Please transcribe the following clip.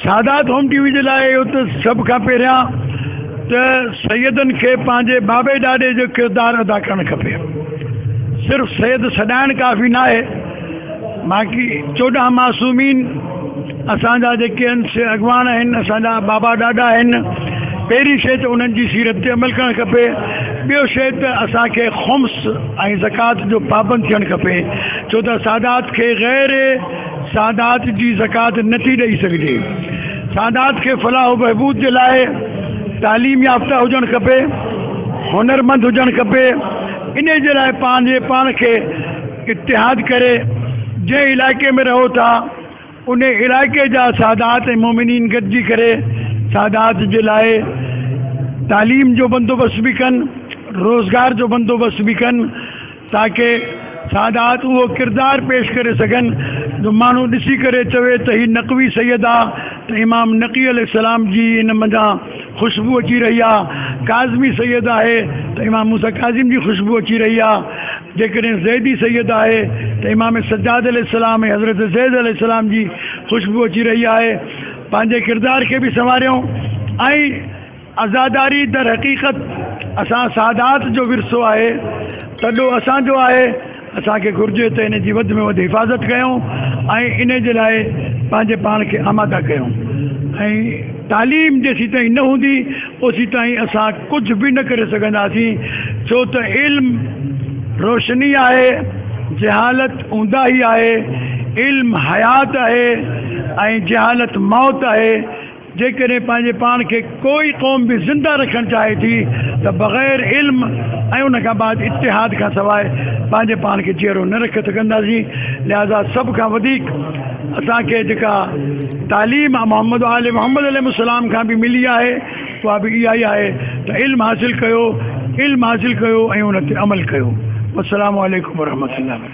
سادات home T V جي لاء اهو ته سڀ کان پهريان ته سيدن کي پنهنجي بابي ڏاڏي جو ڪردار ادا ڪرڻ کپي صرف سيد سڏائڻ ڪافي ناهي باقي چوڏهن معصومين اسان جا جيڪي آهن سي اڳواڻ آهن اسان جا بابا ڏاڏا آهن پهرين شيء ته انهن جي سيرت تي عمل ڪرڻ کپي ٻيو شيء ته اسان کي خمس ۽ زڪوات جو پابند ٿيڻ کپي ڇو ته سادات کي غير سادات جي زڪوات نه ٿي ڏئي سگهجي، سادات کي فلاح و بهبود جي لاء تعليم يافته هجڻ کپي، هنرمند هجڻ کپي، انهي جي لاء پنهنجي پاڻ کي اتحاد ڪري جنهن علائقي ۾ رهو ٿا انهي علائقي جا سادات ۽ مومنين گڏجي ڪري سادات جي لاء تعليم جو بندوبست به ڪن، روزگار جو بندوبست به ڪن. تاڪه سادات اهو ڪردار پيش ڪري سگهن جو ماڻهو ڏسي ڪري چوي ته هي نقوي سيد آ ته امام نقي عليه السلام جي ان منجهان خوشبو اچي رهي آ، ڪاظمي سيد آهي ته امام موسيٰ ڪاظم جي خوشبو اچي رهي آ، جيڪڏهن زيدي سيد آهي ته امام سجاد عليه السلام ۽ حضرت زيد عليه السلام جي خوشبو اچي رهي آهي، پنهنجي ڪردار کي به سنواريو ۽ عزاداري در حقيقت اسان سادات جو ورثو آهي، تڏو اسان جو آهي، اسان کي گهرجي ته ان جي وڌ ۾ وڌ حفاظت ڪيون ۽ ان جي لاء پنهنجي پاڻ کي آماده ڪيون ۽ تعليم جيسين تائين نه هوندي اوسين تائين اسان ڪجهه به نه ڪري سگهنداسين ڇو ته علم روشني آهي جهالت اونداهي آهي، علم حيات آهي ۽ جهالت موت آهي. جيڪڏهن پنهنجي پاڻ کي ڪو ئي قوم به زنده رکڻ چاهي ٿي ته بغير علم ۽ ان کان بعد اتحاد کان سواء پنهنجي پاڻ کي جيئرو نه رکي سگهنداسين لهذا سڀ کان وڌيڪ اسان کي جيڪا تعليم محمد وآل محمد عليهم السلام کان به ملي آهي اها به اها ئي آهي ته علم حاصل ڪيو علم حاصل ڪيو ۽ ان تي عمل ڪيو والسلام عليڪم ورحمة الله.